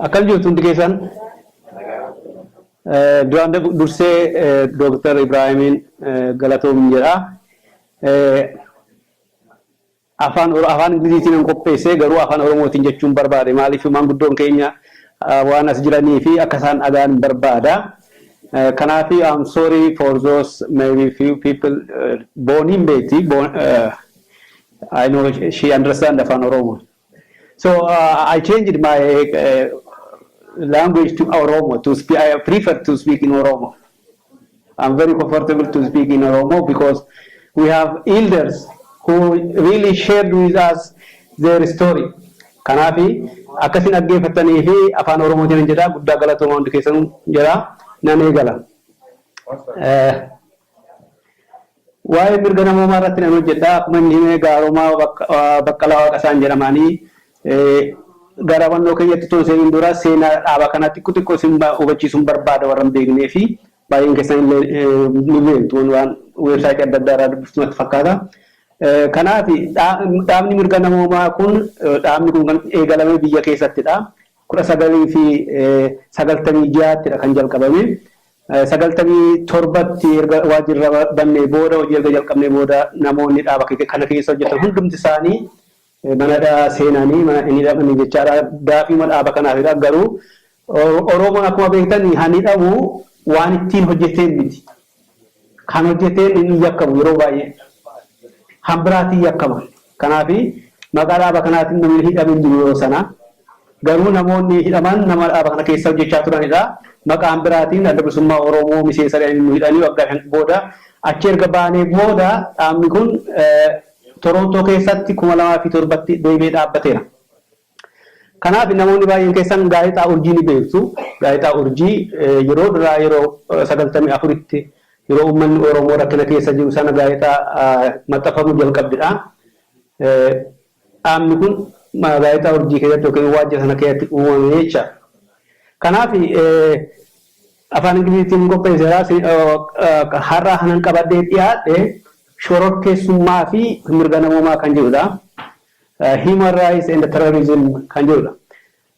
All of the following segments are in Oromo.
Akkam jirtu hundi keessan? Duraan dursee Dooktar Ibraahimiin galatoomi jedha. Afaan oro afaan ingliziitiinan qopheesse garuu afaan oromootiin jechuun barbaade maaliif maanguddoon keenya waan as jiraniifi akka isaan dhaga'an barbaada kanaaf I'm sorry for those maybe few people boon hin beekti boon I know she understand afaan oromoo so uh, I changed my uh, language to oromo to speak I prefer to speak in oromo I'm very comfortable to speak in Oromo because we have elders who really shared with us their story. Kanaafi akkasin dhaggeeffattanii fi afaan Oromootiin jedha guddaa galatooma hundi keessan jedha nan eegala. Waa'ee mirga namoomaa irratti nan hojjedha. Akkuma inni hime Gaaromaa Baqqalaa Waaqasaan jedhamaani. Gara hubannoo keenyatti utuu hin seeniin dura seenaa dhaaba kanaa xiqqoo xiqqoo isin hubachiisuun barbaada warra hin beeknee fi baay'een keessan illee ni beektu waan weebsaayitii adda addaa irraa dubbiftu natti fakkaata. Kanaaf dhaabni mirga namoomaa kun dhaabni kun kan eegalame biyya keessattidha. 1996ttidha kan jalqabame. 97tti erga waajjira bannee booda, hojii erga jalqabnee booda namoonni dhaaba kana keessa hojjetan hundumti isaanii mana hidhaa seenanii mana hin hidhamanii jechaadha. Gaafiima dhaaba kanaafidha. Garuu Oromoon akkuma beektan han hidhamu waan ittiin hojjeteen miti. Kan hojjeteen hin yakkamu yeroo baay'ee. Han biraatiin yakkama. Kanaaf maqaa dhaaba kanaatiin namni hidhame hin jiru yeroo sana. Garuu namoonni hidhaman nama dhaaba kana keessa hojjechaa turanidha. Maqaan biraatiin Adda Bilisummaa Oromoo miseensa jedhanii nu hidhanii waggaa shan booda achi erga baanee booda dhaabni kun Torontoo keessatti 2007tti deebi'ee dhaabbateera. Kanaaf namoonni baay'een keessan gaazexaa Urjii ni beektu. Gaazexaa Urjii yeroo duraa yeroo 94tti yeroo uummanni Oromoo rakkina keessa jiru sana gaazexaa maxxanfamuu jalqabde dha. Dhaabni kun gaazexaa Urjii keessatti yookiin waajjira sana keessatti uumame jecha. Kanaaf afaan Ingiliziitiin qopheesseera. Har'a kanan qabadhee dhiyaadhe shororkeessummaa fi mirga namoomaa kan jedhu dha. Human Rights and Terrorism kan jedhudha.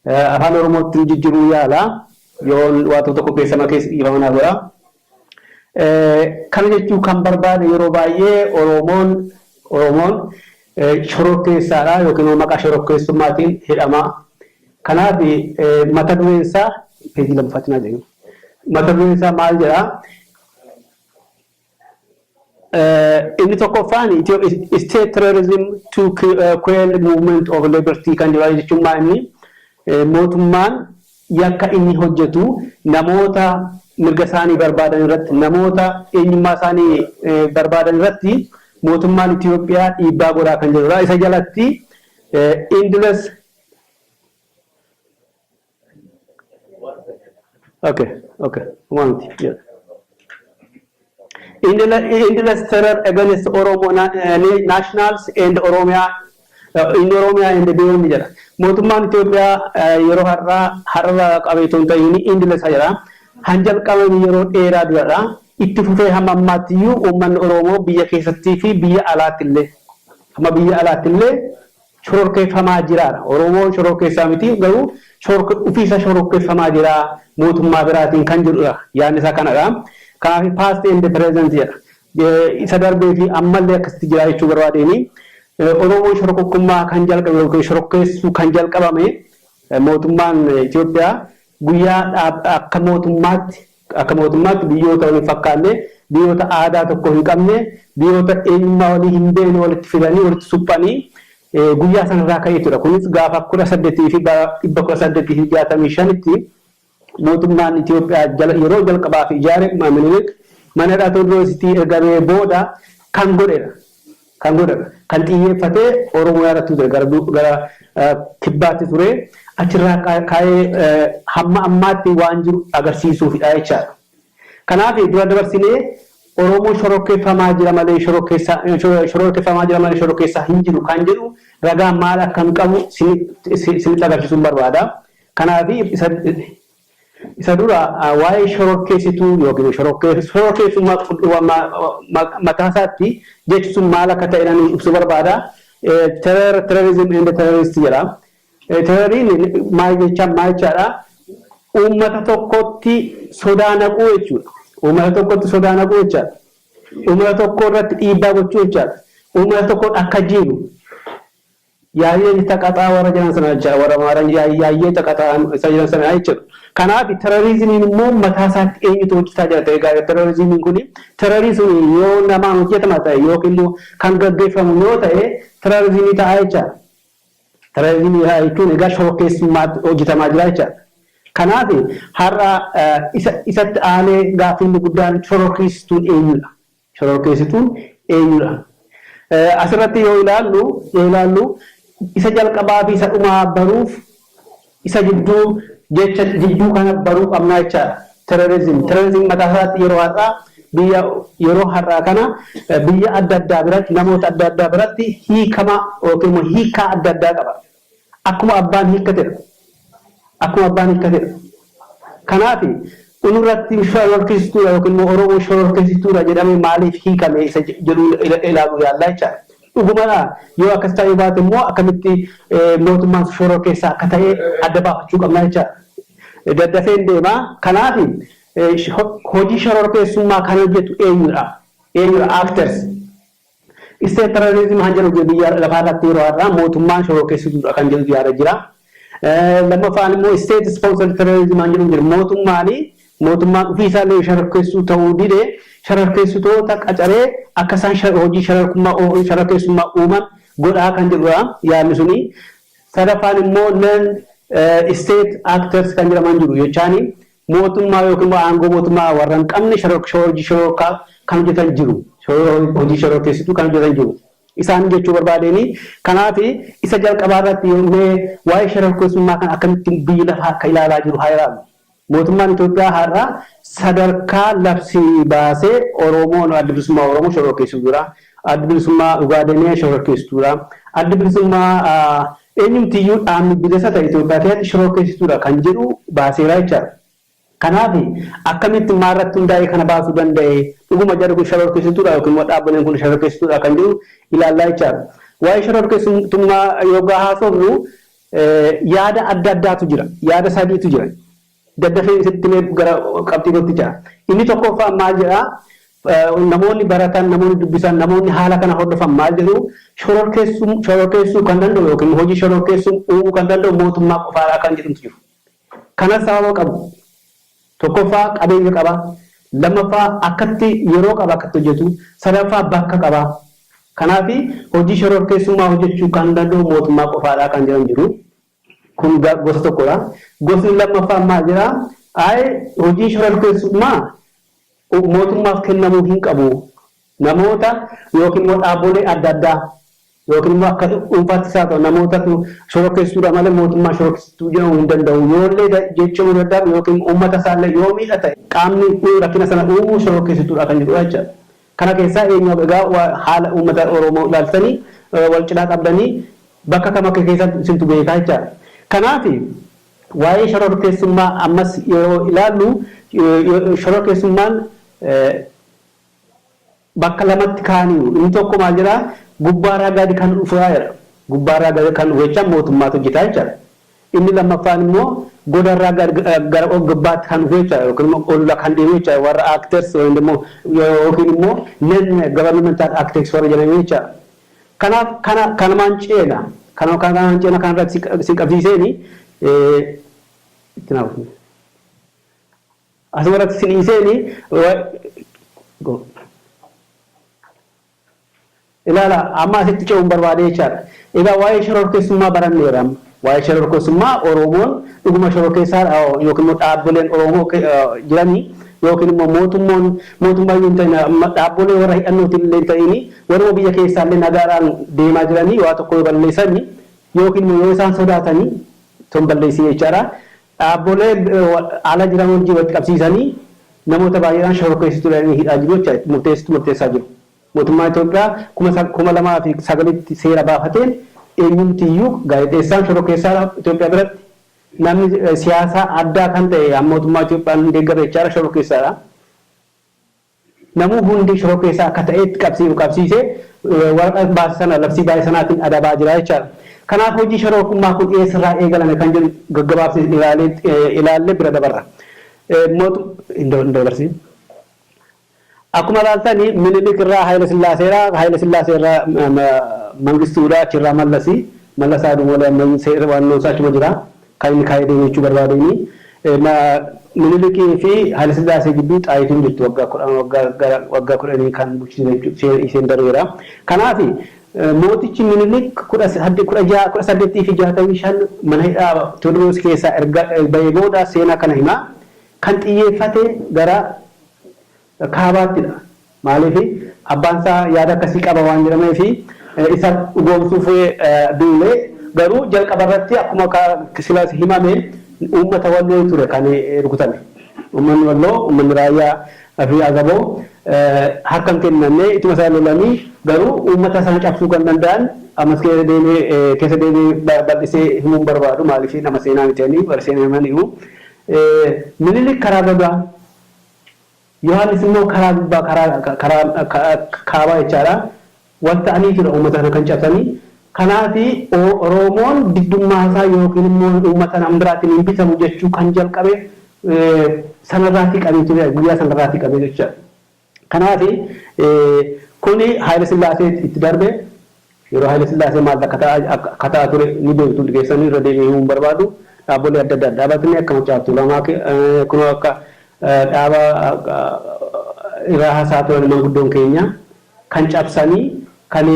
Afaan Oromoottin jijjiruu yaala. Yoon waa tokko tokko keessa makees dhiifama naa godha. Kana jechuu kan barbaade yeroo baay'ee Oromoon Oromoon shororkeessaadha yookiin immoo maqaa shororkeessummaatiin hidhama. Kanaaf mata dureen isaa peejii lammaffaatti naa deebi'i. Mata dureen isaa maal jedhaa? Inni tokkoffaan state terrorism to quell movement of liberty kan jedhu jechuun maa inni mootummaan yakka inni hojjetu namoota mirga isaanii barbaadan irratti namoota eenyummaa isaanii barbaadan irratti mootummaan Itoophiyaa dhiibbaa godhaa kan jirudha. Isa jalatti endless Okay, okay. One, yeah. Endless, endless terror against Oromo na, eh, na- nationals and Oromia uh, in Oromia and beyond jedha. Mootummaan Itoophiyaa eh, yeroo har'aa har'a qabeetu hin ta'in endless jedha. Han jalqabame yeroo dheeraa duradha. Itti fufee hamma ammaatti iyyuu uummanni Oromoo biyya keessattii fi biyya alaatti illee hamma biyya alaatti illee shororkeeffamaa jira dha. Oromoo shororkeessaa miti garuu ofii isaa shororkeeffamaa jira mootummaa biraatiin kan jedhu dha. Yaadni isaa kana dha. Kanaaf past and present jedha. Isa darbee fi ammallee akkasitti jira jechuu barbaadeeni. Oromoon shorokokkummaa kan jalqabe yookiin shorokkeessuu kan jalqabame mootummaan Itoophiyaa guyyaa akka mootummaatti Akka mootummaatti biyyoota wal hin fakkaanne, biyyoota aadaa tokko hin qabne, biyyoota eenyummaa walii hin beekne walitti fidanii, walitti suphanii guyyaa sana irraa ka'eetu dha. Kunis gaafa 18 fi bara 1865 tti mootummaan Itiyoophiyaa jala yeroo jalqabaaf ijaare Minilik mana hidhaa Tewodroositti ergamee booda kan godhe dha. kan godhan. Kan xiyyeeffatee Oromoyaa irratti ture gara kibbaatti ture. Achirraa ka'ee hamma ammaatti waan jiru agarsiisuufidha jechaadha. Kanaaf dura dabarsinee Oromoo shororkeeffamaa jira malee shororkeeffamaa jira malee shororkeessaa hin jiru kan jedhu ragaa maal akkan qabu isinitti agarsiisuun barbaada. Kanaaf Isa dura waa'ee shororkeessituu yookiin shororkeessummaa qulqulluu mataa isaatti jechi sun maal akka ta'e nan ibsuu barbaada. Terror, terrorism and terrorist jedha. Terroriin maal jechaan maal jechaadha? Uummata tokkotti sodaa naquu jechuudha. Uummata tokkotti sodaa naquu jechaadha. Uummata tokko irratti dhiibbaa gochuu jechaadha. Uummata tokko akka jiilu Yaayyee ni taqaxaa warra jedhan sana jechuudha. Warra Amaaran yaay yaayyee taqaxaa isa jedhan sana jechuudha. Kanaaf terrorismiin immoo mataa isaatti eenyutu hojjetaa jira ta'e gaarii terrorismiin kun terrorismiin yoo namaan hojjetama ta'e yookiin immoo kan gaggeeffamu yoo ta'e terrorismii ta'a jecha. Terrorismii ta'a jechuun egaa shorokkeessummaatti hojjetamaa jira jecha. Kanaaf har'a isatti aanee gaaffiin guddaan shorokkeessistuun eenyudha? Shororkeessituun eenyudha? Asirratti yoo ilaallu yoo ilaallu isa jalqabaa fi isa dhumaa baruuf isa gidduu jecha jidduu kana baruu qabna jechaadha. Terrorism terrorism mataa isaatti yeroo har'aa biyya yeroo har'aa kana biyya adda addaa biratti namoota adda addaa biratti hiikama yookiin immoo hiikaa adda addaa qaba. Akkuma abbaan hiikkatedha. Akkuma abbaan hiikkatedha. Kanaafi unurratti shororkeessituudha yookiin immoo Oromoo shororkeessituudha jedhamee maaliif hiikame isa jedhu ilaaluu yaalla jechaadha. Dhugumadhaa? Yoo akkas ta'uu baate immoo akkamitti mootummaan shororkeessaa akka ta'e adda baafachuu qabna jechaadha. Daddafeen deema. Kanaafi hojii shororkeessummaa kan hojjetu eenyudha? Eenyudha? Actors. State terrorism kan jedhu jira biyya lafaa irratti yeroo har'aa mootummaan shororkeessituudha kan jedhutu yaada jira. Lammaffaan immoo state sponsored terrorism kan jedhu jira mootummaan mootummaan ofiisaallee shororkeessituu ta'uu dide shororkeessitoota qacaree akka isaan shar- hojii shororkummaa oo- shororkeessummaa uuman godhaa kan jedhudha yaadni suni. Sadaffaan immoo non state actors kan jedhaman jiru jechaani mootummaa yookiin immoo aangoo mootummaa warra hin qabne hojii shororkaa kan hojjetan jiru. Hojii shororkeessituu kan hojjetan jiru. Isaan jechuu barbaadeen kanaaf isa jalqabaa irratti yommuu waa'ee shororkeessummaa kan akkamittiin biyyi lafaa akka ilaalaa jiru haa ilaallu. Mootummaan Itoophiyaa har'a sadarkaa labsii baasee Oromoon adda bilisummaa Oromoo shororkeessituudha. Addi Bilisummaa Ugaadenee shororkeessituudha. Addi Bilisummaa eenyumtiyyuu dhaabni bilisa ta'e Itoophiyaa keessatti shororkeessituudha kan jedhu baaseera jechaadha. Kanaaf akkamitti maalirratti hundaa'ee kana baasuu danda'e? Dhuguma jarri kun shororkeessituudha yookiin immoo dhaabbileen kun shororkeessituudha kan jedhu ilaallaa jechaadha. Waa'ee shororkeessitummaa yoggaa haasofnu yaada adda addaatu jira. Yaada sadiitu jira. Daddafeen sitti himee gara qabxii kootti ce'a. Inni tokkooffaan maal jedha? Namoonni baratan, namoonni dubbisan, namoonni haala kana hordofan maal jedhu? Shororkeessum, shororkeessuu kan danda'u yookiin immoo hojii shororkeessum uumuu kan danda'u mootummaa qofaadha kan jedhuntu jiru. Kanas sababa qabu. Tokkoffaa qabeenya qaba. Lammaffaa akkatti yeroo qaba akkatti hojjetu. Sadaffaa bakka qaba. Kanaafi hojii shororkeessummaa hojjechuu kan danda'u mootummaa qofaadha kan jedhan jiru. Kun gosa tokkodha. Gosni lammaffaan maal jedha? Ayi hojiin shororkeessummaa mootummaaf kennamuu hin qabu. Namoota yookiin immoo dhaabbolee adda addaa yookiin immoo akka dhuunfaattis haa ta'u namootatu shororkeessituudha malee mootummaan shororkeessituu jedhamuu hin danda'u. Yoollee jeeqamuu dadhabe yookiin uummata isaallee yoo miidha ta'e qaamni rakkina sana uumu shororkeessituudha kan jedhudha jechuudha. Kana keessaa eenyu egaa haala uummata Oromoo ilaaltanii wal cinaa qabdanii bakka kam akka keessan isintu beekaa jechaadha. Kanaaf waa'ee shororkeessummaa ammas yeroo ilaallu shororkeessummaan bakka lamatti kaaniiru. Inni tokko maal jedhaa gubbaarraa gadi kan dhufudhaa jedha. Gubbaarraa gadi kan dhufu jechaan mootummaatu hojjetaa jechaadha. Inni lammaffaan immoo goda irraa gara og-gabbaatti kan dhufu jechuudha yookiin immoo ol kan deemu jechuudha warra actors yookiin immoo non governmental actors warra jedhanii jechuudha. Kanaaf kana kanumaan ceena kanuma kanumaan ceena kana irratti isin qabsiiseeni itti naaf asuma irratti isin dhiiseeni Ilaalaa, amma asitti ce'uun barbaade jechaadha. Egaa waa'ee shororkeessummaa baranneerra amma. Waa'ee shororkeessummaa Oromoon dhuguma shororkeessaadha yookiin immoo dhaabboleen Oromoo jiranii yookiin immoo mootummoon mootummaa iyyuu hin ta'in dhaabbolee warra hidhannootiin illee hin ta'ini warruma biyya keessaa illee nagaadhaan deemaa jiranii waa tokko yoo balleessani yookiin immoo yoo isaan sodaatanii ton balleessii jechaadha. Dhaabbolee ala jiran wajjin walitti qabsiisanii Namoota baay'eedhaan shororkeessituudha jedhanii hidhaa jiru jecha itti murteessitu murteessaa jiru. Mootummaan Itoophiyaa 2009tti seera baafateen eenyumti iyyuu gaazexeessaan shororkeessaadha Itoophiyaa biratti. Namni siyaasaa addaa kan ta'e kan mootummaa Itoophiyaan hin deeggarre jechaadha shororkeessaadha. Namuu hundi shororkeessaa akka ta'eetti qabsiiru qabsiisee waraqaa baase sana labsii baase sanaatiin adabaa jira jechaadha. Kanaaf hojii shororkummaa kun eessarraa eegalame kan jedhu gaggabaabsine ilaallee bira dabarra. Mootu hin dabarsiin. Akkuma ilaaltan Minilik irraa Hayila Sillaaseera, Hayila Sillaasee irraa Mangistuudha, achi irraa Mallasi, Mallas haa du'u malee ammayyuu seera waannoon isaa achuma jira. Kan inni kaa'ee deeme jechuu barbaade inni. Minilikii fi Hayila Sillaasee gidduu Xaayituu hin jirtu waggaa kudhanii kan bulchiinsa isheen dareera. Kanaaf Mootichi Minilik 1865 mana hidhaa Tewodroos keessaa erga bahee booda seenaa kana hima. Kan xiyyeeffate gara Kaabaattidha. Maaliif abbaan isaa yaada akkasii qaba waan jedhameef isa dhugoomsuuf duule. Garuu jalqaba irratti akkuma sila himame uummata Walloo ture kan rukutame. Uummanni Walloo, uummanni Raayyaa. Fi agaboo harka hin kennanne ituma isaan lolanii garuu uummata isaan cabsuu kan danda'an ammas keessa deemee keessa deemee bal'isee himuu hin barbaadu maaliif nama seenaa miti ani warri seenaa himan himu minilik karaa bagaa yohaannis immoo karaa gubbaa karaa karaa kaabaa jechaadha Wan ta'aniifidha uummata kana kan cabsani. Kanaafi Oroomoon diddummaasaa ykn immoo uummata nam biraatiin hin bitamu jechuu kan jalqabe sanarraati qabee ture guyyaa sanarraati qabee jechuudha. Kanaafi kuni Haayile Sillaasee itti darbe yeroo Haayile Sillaasee maal akka ta'aa akka ta'aa ture ni beektu hundi keessanu irra deebi'ee himuu hin barbaadu. Dhaabbolee adda addaa dhaabatni akka Maccaa Tuulamaa kunoo akka dhaaba irraa haasa'a turan manguddoon keenya kan cabsanii kan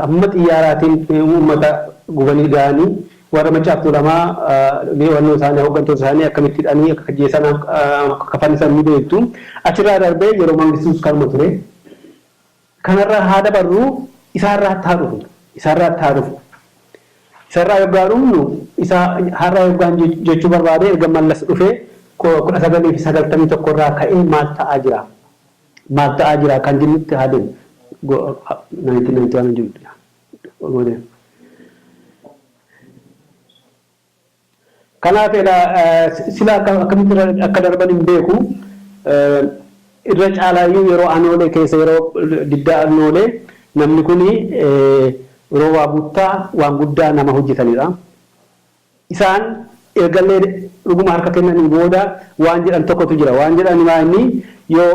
hamma xiyyaaraatiin uummata gubanii gahanii warra Maccaaf Tuulamaa leewannoo isaanii hooggantoota isaanii akkamitti hidhanii akka ajjeesan akka fannisan ni beektu. Achirraa darbee yeroo Mangistuus kanuma ture. Kanarraa haa dabarru isaarraatti haa dhufnu. Isaarraatti haa dhufnu. Isarraa yoggaa dhufnu isa har'a yoggaan jechuu barbaade erga Mallas dhufee 1991 irraa ka'ee maal ta'aa jira? Maal ta'aa jira kan jennutti haa deemnu. 1991 Kanaaf egaa sila akkamitti akka darban hin beeku. Irra caalaayyuu yeroo Anoolee keessa yeroo diddaa Annoolee namni kuni yeroo waa buttaa waan guddaa nama hojjetanidha. Isaan ergallee dhuguma harka kennanii booda waan jedhan tokkotu jira. Waan jedhan maa inni yoo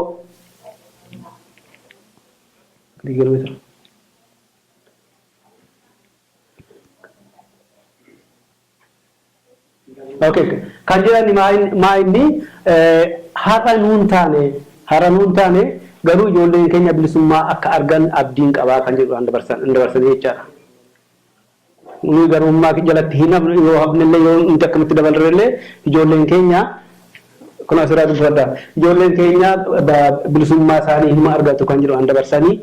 Okay. Kan jedhan maa inni- maa inni eh, har'a nuun taane har'a nuun taane garuu ijoolleen keenya bilisummaa akka argan abdiin qabaa kan jedhu an dabarsan- an dabarsanii jechaadha. Nuyi garbummaa jalatti hin hafnu, yoo hafnellee, yoo nuti akkamitti dabarrellee ijoolleen keenya, kunoo asirraa dubbifadhaa, ijoolleen keenya bilisummaa isaanii hinuma argatu kan jedhu an dabarsanii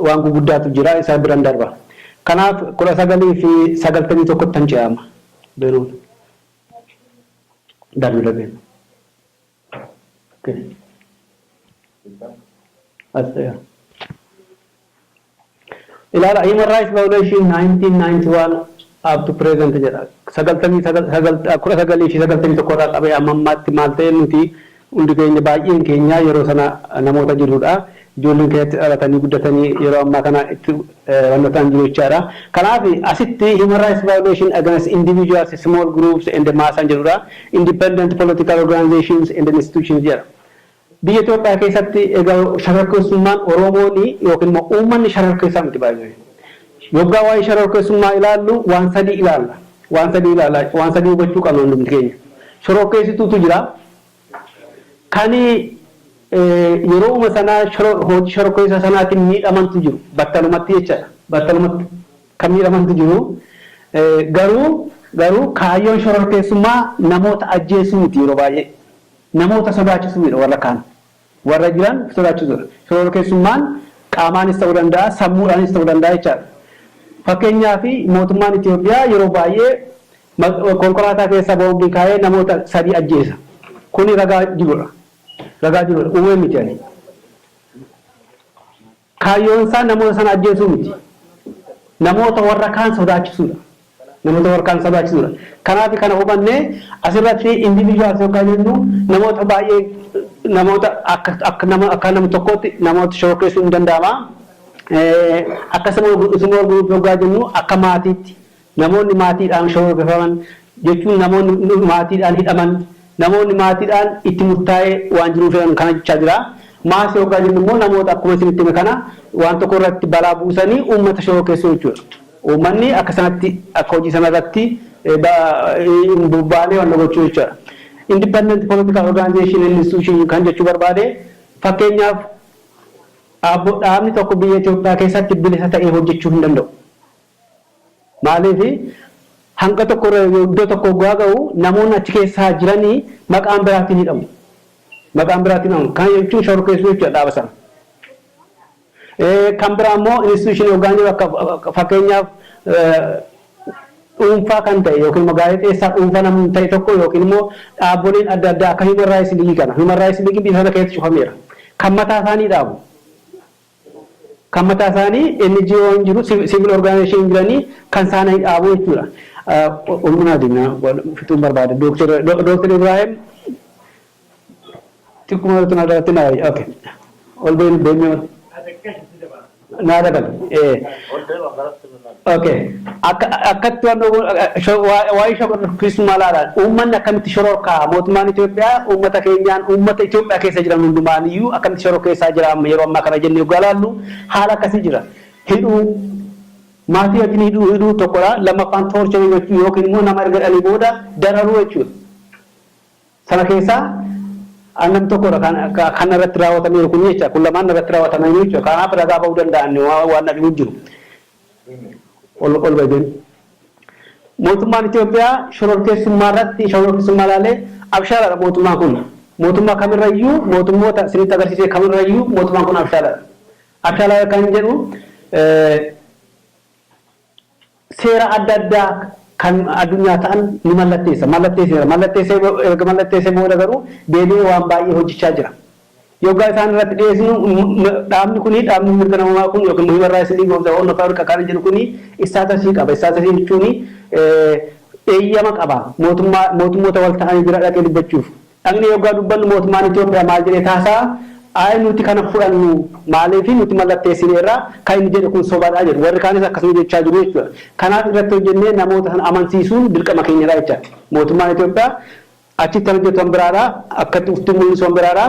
waan guguddaatu jira, isa biran darba. Kanaaf 1991ttan ce'a amma. Beruun. Darbi darbi. Okay. As ta'e. Ilaala Human Rights Violation 1991 up to present jedha. 1991 irraa qabee amma ammaatti maal ta'e nuti hundi keenya baay'een keenya yeroo sana namoota jirrudha. Ijoolleen keenya itti dhalatanii guddatanii yeroo ammaa kana itti wanna ta'an jiru jechaadha. Kanaaf asitti Human Rights Violation against individuals, small groups and mass an jedhudha. Independent political organizations and institutions jedha. Biyya Itoophiyaa keessatti egaa sharorkeessummaan Oromooni yookiin immoo uummanni sharorkeessaa miti by the way. Yoggaa waa'ee sharorkeessummaa ilaallu waan sadii ilaalla. Waan sadii ilaalla. Waan sadii hubachuu qabna hundumti keenya. Shororkeessituutu jira. Kani yerooma sana hojii shororkeessaa sanaatiin miidhamantu jiru. Battalumatti jechadha. Battalumatti kan miidhamantu jiru. Garuu garuu kaayyoon shororkeessummaa namoota ajjeesuu miti yeroo baay'ee. Namoota sodaachisuudha warra kaan warra jiran sodaachisuudha. Shororkeessummaan qaamaanis ta'uu danda'a, sammuudhaanis ta'uu danda'a jechaadha. Fakkeenyaaf mootummaan Itoophiyaa yeroo baay'ee konkolaataa keessa boombii kaa'ee namoota sadii ajjeesa. Kuni ragaa jiruudha. Ragaa jiruudha. Uumee miti ani. Kaayyoonsaa namoota sana ajjeesuu miti. Namoota warra kaan sodaachisuudha. Namoota warra kaan sodaachisuudha. Kanaafi kana hubannee asirratti individuals yoggaa jennu namoota baay'ee namoota akka akka nama akka nama tokkootti namoota shororkeessuun ni danda'ama. Akka small group small group yoggaa jennu akka maatiitti namoonni maatiidhaan shororkefaman, jechuun namoonni maatiidhaan hidhaman, namoonni maatiidhaan itti murtaa'ee waan jiruuf jedhan kana jechaa jira. Maasii hoggaa jennu immoo namoota akkuma isinitti hime kana waan tokko irratti balaa buusanii uummata shororkeessuu jechuudha. Uummanni akka sanatti akka hojii sana irratti hin bobbaanee wanna gochuu jechaadha. Independent political organization and institution kan jechuu barbaade fakkeenyaaf Aabbo dhaabni tokko biyya Itoophiyaa keessatti bilisa ta'ee hojjechuu hin danda'u. Maaliif hanga tokko irra iddoo tokko oggaa ga'u namoonni achi keessaa jiranii maqaan biraatiin hidhamu. Maqaan biraatiin hidhamu. Kana jechuun shororkeessuu jechuudha dhaaba sana. Kan biraa immoo instituushinii oggaan jiru akka fakkeenyaaf dhuunfaa kan ta'e yookiin immoo gaazexeessaa dhuunfaa namni ta'e tokko yookiin immoo dhaaboliin adda addaa akka Human Rights League kana. Human Rights League biyya sana keessatti cufameera. Kan mataa isaanii dhaabu. Kan mataa isaanii NGO hin jiru, civil organization hin jiranii, kan saana hin dhaabu jechuudha. Ulmina Adina fixuun barbaada. Dr. Ibrahim xiqquma irratti na irratti na wayya. Okay. Ol deemee ol. Naa dabalu. Ol deemaa garatti. ok akka akkatti waan dhoowwuu shor- waa- waa'ee shororkeessummaa laalaan uummanni akkamitti shororkaa mootummaan Itoophiyaa uummata keenyaan uummata Itoophiyaa keessa jiran hundumaan iyyuu akkamitti shororkeessaa jira amma yeroo ammaa kana jennee oggaa laallu haala akkasii jira hidhuu maatii wajjin hidhuu hidhuu tokkodha lammaffaan toorcharii gochuu yookiin immoo nama erga dhalii booda dararuu jechuudha. Sana keessaa namni tokko dha kan narratti raawwatameeru kuni jecha. Kun lamaan narratti raawwatamaniiru jechuudha. Kanaaf ragaa ba'uu danda'an waan na dhibu hin jiru. Olbajen. Mootummaan Itoophiyaa shororkeessummaa irratti shororkeessummaa ilaalee abshaala dha mootummaan kun. Mootummaa kamirra iyyuu mootummoota isinitti agarsiise kamirra iyyuu mootummaan kun abshaala dha. Abshaala kan jedhu seera adda addaa kan addunyaa ta'an ni mallatteessa, mallatteesseera. Mallatteessee erga mallatteessee booda garuu deebi'ee waan baay'ee hojjechaa jira. Yoggaa isaan irratti dhiyeessinu dhaabni kuni, dhaabni mirga namoomaa kun yookiin Human Rights League of the Horn of Africa kan jedhu kuni istaatasii qaba. Istaatasii jechuun eeyyama qaba mootummaa, mootummoota wal ta'anii bira dhaqee dubbachuuf. Dhaqnee yoggaa dubbannu mootummaan Itoophiyaa maal jedhee haasa'a? Ayi nuti kana fudhannu maaliifi nuti mallatteessineerra, kan inni jedhe kun sobadha jedhu. Warri kaanis akkasuma jechaa jiru jechuudha. Kanaaf irratti hojjennee namoota sana amansiisuun dirqama keenyadha jecha. Mootummaan Itoophiyaa achitti kan hojjetu kan biraadha, akkatti ufti mul'isu kan biraadha,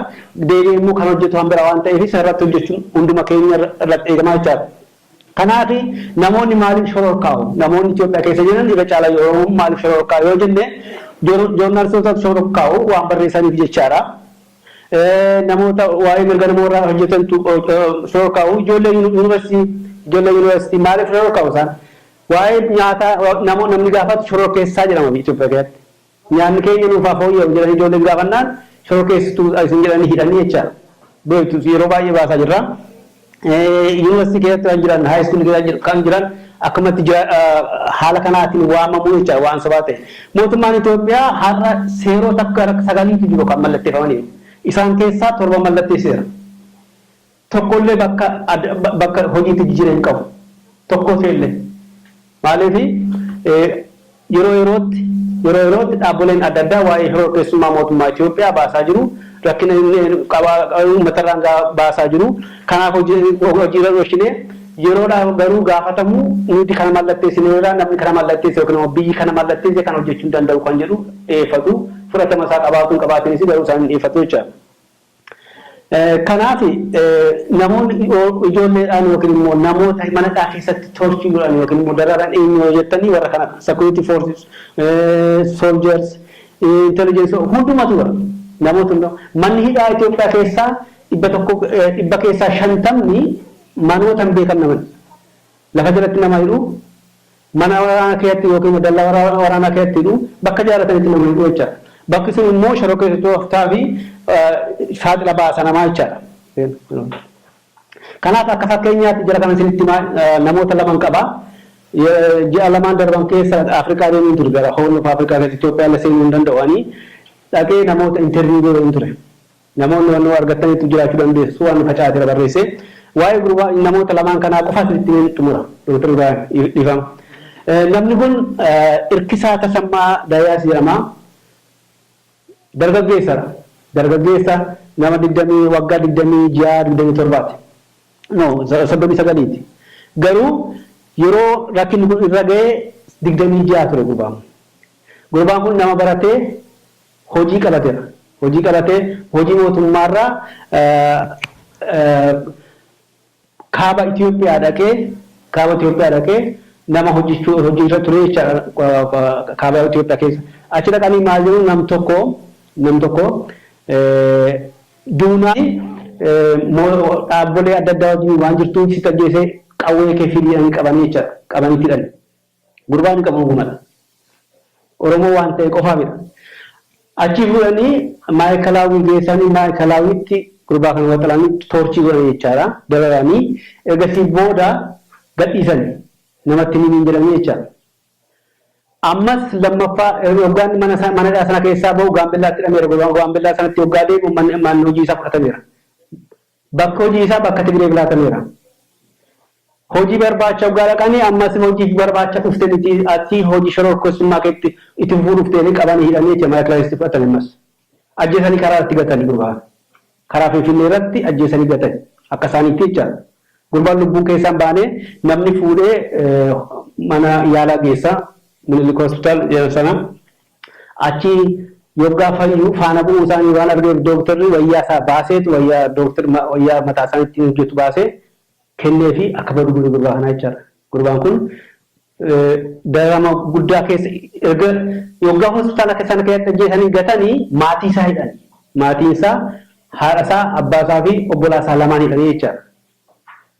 deebi'ee immoo kan hojjetu kan biraa waan ta'eef isa irratti hojjechuun hunduma keenya irratti eegama jechaadha. Kanaaf namoonni maaliif shororkaa'u? Namoonni Itoophiyaa keessa jiran irra caalaa Oromoon maaliif shororkaa'a yoo jenne joornaalistootatu shororkaa'u waan barreessaniif jechaadha. Namoota waa'ee mirga nama warraa hojjetantu shororkaa'u. Ijoollee yuunivarsiitii ijoollee yuunivarsiitii maaliif shororkaa'u isaan? Waa'ee nyaataa namni gaafatu shororkeessaa jedhama Itoophiyaa keessatti. Nyaanni keenya nuuf haa fooyya'u jedhanii ijoolleen gaafannaan shorokeessituu dha isin jedhanii hidhanii jecha beektu yeroo baay'ee baasaa jirra. Yunivarsiitii keessatti kan jiran, high school keessa kan jiran akkamatti haala kanaatiin waamamu jecha waan sobaa ta'e. Mootummaan Itoophiyaa har'a seeroota akka sagaliitu jiru kan mallatteeffamaniiru. Isaan keessaa torba mallatteesseera. tokko illee bakka bakka hojiitti jijire hin qabu tokko ta'e illee maaliif yeroo yerootti yeroo yerootti dhaabboleen adda addaa waa'ee shororkeessummaa mootummaa Itoophiyaa baasaa jiru rakkina uummata irraan baasaa jiru kanaaf hojiirra dhoshinee yeroodhaa garuu gaafatamu nuti kana mallatteessinee irraa namni kana mallatteesse yookiin immoo biyyi kana mallatteesse kan hojjechuu hin danda'u kan jedhu dhiyeeffatu fudhatama isaa qabaatuun qabaatiinis garuu isaan hin dhiyeeffatu jechaadha. Kanaaf namoonni ijoolleedhaan yookiin immoo namoota mana hidhaa keessatti torture godhan yookiin immoo dararan eenyu yoo jettanii warra kanadha. Security forces, soldiers, intelligence hundumatu bara. Namoota hunda. Manni hidhaa Itoophiyaa keessaa 100 dhibba keessaa 50 manoota hin beekamne mana. Lafa jalatti nama hidhu. Mana waraanaa keetti ykn dallaa waraanaa keetti hidhu, bakka jaalatanitti nama hidhu jechaadha. Bakki sun immoo shororkeessitootaa fi saaxila baasa namaa jechaadha. Kanaaf akka fakkeenyaatti jara kanan isinitti himaa namoota laman qaba. Ji'a lamaan darban keessa Afrikaa deemeen ture gara Horn of Africa keessa Itoophiyaa illee seenuu hin danda'u ani. Dhaqee namoota interview godheen ture. Namoonni waan nuu argattaniittu jiraachuu dandeessu waan nu facaatera barreesse. Waa'ee gurba namoota lamaan kanaa qofa isinitti himeen xumura. Doktar Ibraahim, Dhiifama. Namni kun Irkisaa Tasammaa Dayaas jedhama. Dargaggeessadha. Dargaggeessa nama 20 waggaa 26, 27ti. No, 39ti. Garuu yeroo rakkinni kun irra ga'e 26 ture gurbaan kun. Gurbaan kun nama baratee hojii qabatera. Hojii qabatee hojii mootummaarraa kaaba Itoophiyaa dhaqee kaaba Itoophiyaa dhaqee nama hojjechuu hojjecha ture jechaadha kaaba Itoophiyaa keessa. Achi dhaqanii maal jedhu nam tokko nam tokko duunaa dhaabbolee adda addaa wajjin waan jirtuun sitti ajjeesee qawwee kee fidii jedhanii qabanii jechaadha. Qabanii itti hidhani. Gurbaan hin qabu dhugumadha. Oromoo waan ta'e qofaa midha. Achii fuudhanii maayikalaawwii geessanii maayikalaawwiitti gurbaa kana waxalanii toorchii godhanii jechaadha. Dararanii ergasii booda gadhiisani namatti hin himiin jedhanii jechaadha. Ammas lammaffaa hoggaan mana isaa mana hidhaa sana keessaa bahu gaambellaatti hidhameera. Gaambellaa sanatti hoggaa deemu manni hojii isaa fudhatameera. Bakki hojii isaa bakka Tigreef laatameera. Hojii barbaacha oggaa dhaqani ammas hojiif barbaacha dhufte miti ati hojii shororkeessummaa keetti itti fufuu dhufte jedhanii qabanii hidhanii jechuudha maa'ikilaa keessatti fudhatani ammas. Ajjeesanii karaa irratti gatani gurbaa karaa Finfinnee irratti ajjeesanii gatani akka isaaniitti jechaadha. Gurbaan lubbuun keessaa hin baane namni fuudhee mana yaalaa geessa Minilik Hospital jedhan sana. Achii yoggaa fayyu faana bu'uu isaanii waan argeef dooktarri wayyaa isaa baaseetu wayyaa dooktar wayyaa mataa isaanii ittiin hojjetu baasee kenneefii akka badu godhe gurbaa kanaa jechaadha. Gurbaan kun dararama guddaa keessa erga yoggaa hospitaala keessa sana keessatti ajjeesanii gatanii maatii isaa hidhani. Maatiin isaa haadha isaa, abbaa isaa fi obbolaa isaa lamaan hidhanii jechaadha.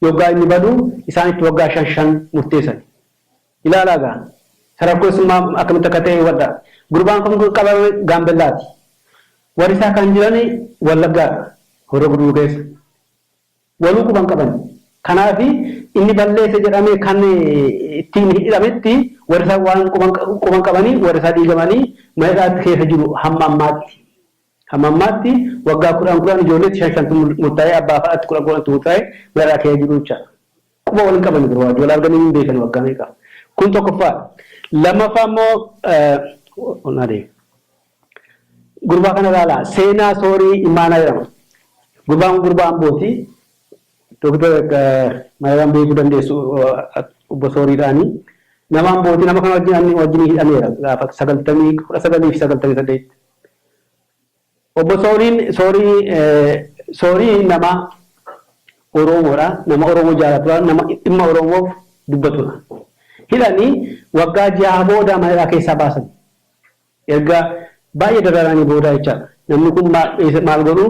Yoggaa inni badu isaan itti waggaa shan shan murteessani. Ilaalaa gaa ta rakkoo isummaa akkamitti akka ta'e hubadhaa. Gurbaan kun kan qabame Gaambellaati. Warri isaa kan jiran Wallaggaadha, Horroo Guduruu keessa. Waluu quba hin qaban. Kanaaf inni balleesse jedhamee kan ittiin hidhametti warri isaa waan quba hin qabanii warri isaa diigamanii mana hidhaatti keessa jiru hamma ammaatti. Hamma ammaatti waggaa kudhan kudhan ijoolleetti shan shantu murtaa'ee abbaa fa'aatti kudhan kudhantu murtaa'ee mana hidhaa keessa jiru jechaadha. Quba wal hin qabani bar waajji wal arganii hin beekani waggaa meeqa kun tokkoffaa lammaffaa immoo naa deebi gurbaa kana ilaala seenaa soorii imaanaa jedhama gurbaan kun gurbaa ambooti doktar maayiraan beekuu dandeessu obbo sooriidhaani nama ambooti nama kana wajjin anni wajjin hidhameera gaafa sagaltamii kudha sagalii fi sagaltamii saddeet Obbo sooriin soorii soorii nama oroomoodha nama oroomoo jaalatudha nama dhimma oroomoof dubbatudha hidhanii waggaa ja'a booda mana hidhaa keessaa baasan erga baay'ee dararanii booda jechaadha namni kun maal godhu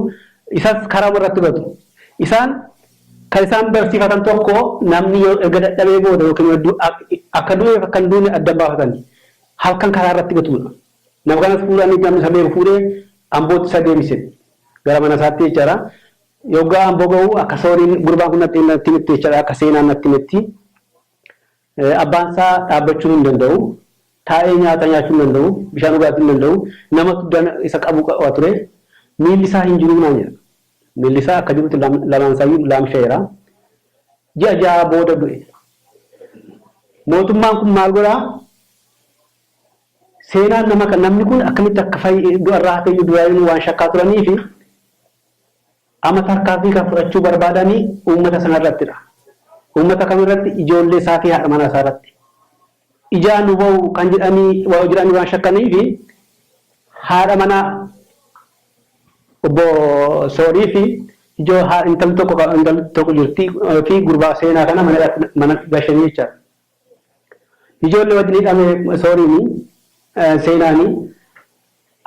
isas karaama irratti badu isaan kan isaan barsiifatan tokko namni yoo erga dadhabee booda yookiin akka du'eef akka hin duune adda baafatan halkan karaa irratti gatudha Nama kanas fuudhanii namni isa beeku fuudhee Ambootti isa deebise. Gara mana isaatti jechaadha. Yoggaa Amboo gahu akka sooriin gurbaan kun natti natti himetti jechaadha. Akka seenaan natti himetti. Abbaan isaa dhaabbachuu hin danda'u. Taa'ee nyaata nyaachuu hin danda'u. Bishaan dhugaatii hin danda'u. Namatu dana isa qabu qaba ture. Miilli isaa hin jiruu naan jedha. Miilli isaa akka jirutti lamaan isaayyuu laamsha'eera. Ji'a ja'a booda du'e. Mootummaan kun maal godhaa? Seenaan nama kan namni kun akkamitti akka fayye du'a irraa hafe iyyuu duraayyuu waan shakkaa turaniifi amma tarkaanfii kan fudhachuu barbaadani uummata sana irrattidha. Uummata kam irratti? Ijoollee isaa fi haadha manaa isaa irratti. Ijaa nu ba'u kan jedhanii jedhanii waan shakkaniifi haadha manaa obbo Soorii fi ijoo intalli tokko intalli tokko jirti fi gurbaa seenaa kana mana hidhaatti mana gashanii jechaadha. Ijoolle wajjin hidhame Sooriini, Seenaani.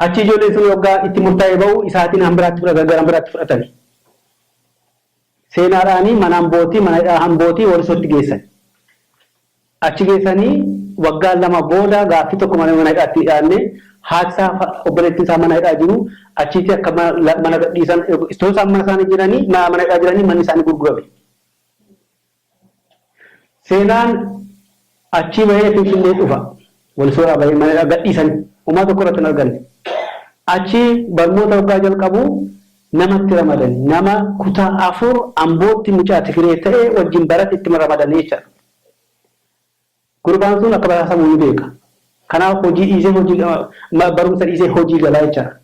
Achi ijoolleen sun hogga itti murtaa'e ba'u isaatiin hambiraatti fudhatan, gara hambiraatti fudhatani. Seenaadhaani mana Ambootii, mana hidhaa Ambootii Walisootti geessani. Achi geessanii waggaa lama booda gaaffii tokko malee mana hidhaatti hidhaanne. Haati isaa fa obboleettiin isaa mana hidhaa jiru. Achiitii akka mana gadhiisan, itoo isaan mana isaanii jiranii, mana hidhaa jiranii manni isaanii gurgurame. Seenaan achii bahee Finfinnee dhufa. Walisooraa bahee mana hidhaa gadhiisani. Homaa tokko irratti hin arganne. Achi barmoota hoggaa jalqabu nama itti ramadani. Nama kutaa afur Ambootti mucaa Tigiree ta'e wajjin barate itti ramadani jechaadha. Gurbaan sun akka basaasamu ni beeka. Kanaaf hojii dhiisee hojii barumsa dhiisee hojii gala jechaadha.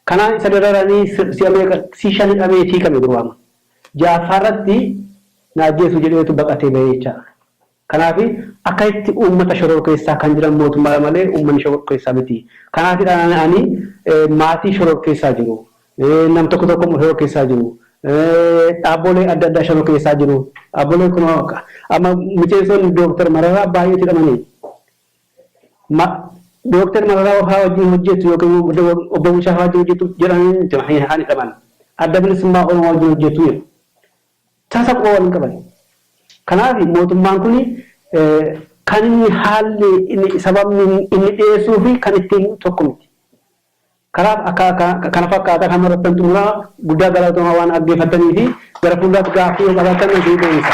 Kanaan isa dararanii si'a meeqa si shan hidhameeti hiikame gurbaan. Ja'affaa irratti na ajjeesu jedheetu baqatee bahe jechaadha. Kanaaf akkasitti uummata shororkeessaa kan jiran mootummaadha malee uummanni shororkeessaa miti. Kanaafidha ani maatii shororkeessaa jiru. nam tokko tokko immoo shororkeessaa jiru. Dhaabbolee adda addaa shororkeessaa jiru. Dhaabbolee kun amma miseensoonni Dooktar Mararaa baay'eetu hidhamanii. Dooktar Mararaa fa'aa wajjin hojjettu yookiin obbo Bulchaa fa'aa wajjin hojjettu jedhanii miti kan hidhaman. Adda bilisummaa Oromoo wajjin hojjettu jedhu. Tasa quba wal hin qaban. Kanaaf mootummaan kun kan inni haalli sababni inni dhiyeessuu fi kan ittiin tokko miti. Kanaaf akka kana fakkaata kanuma irrattan xumura guddaa galatooma waan dhaggeeffattanii fi gara fuulduraatti gaaffii yoo qabaattan isin deebisa.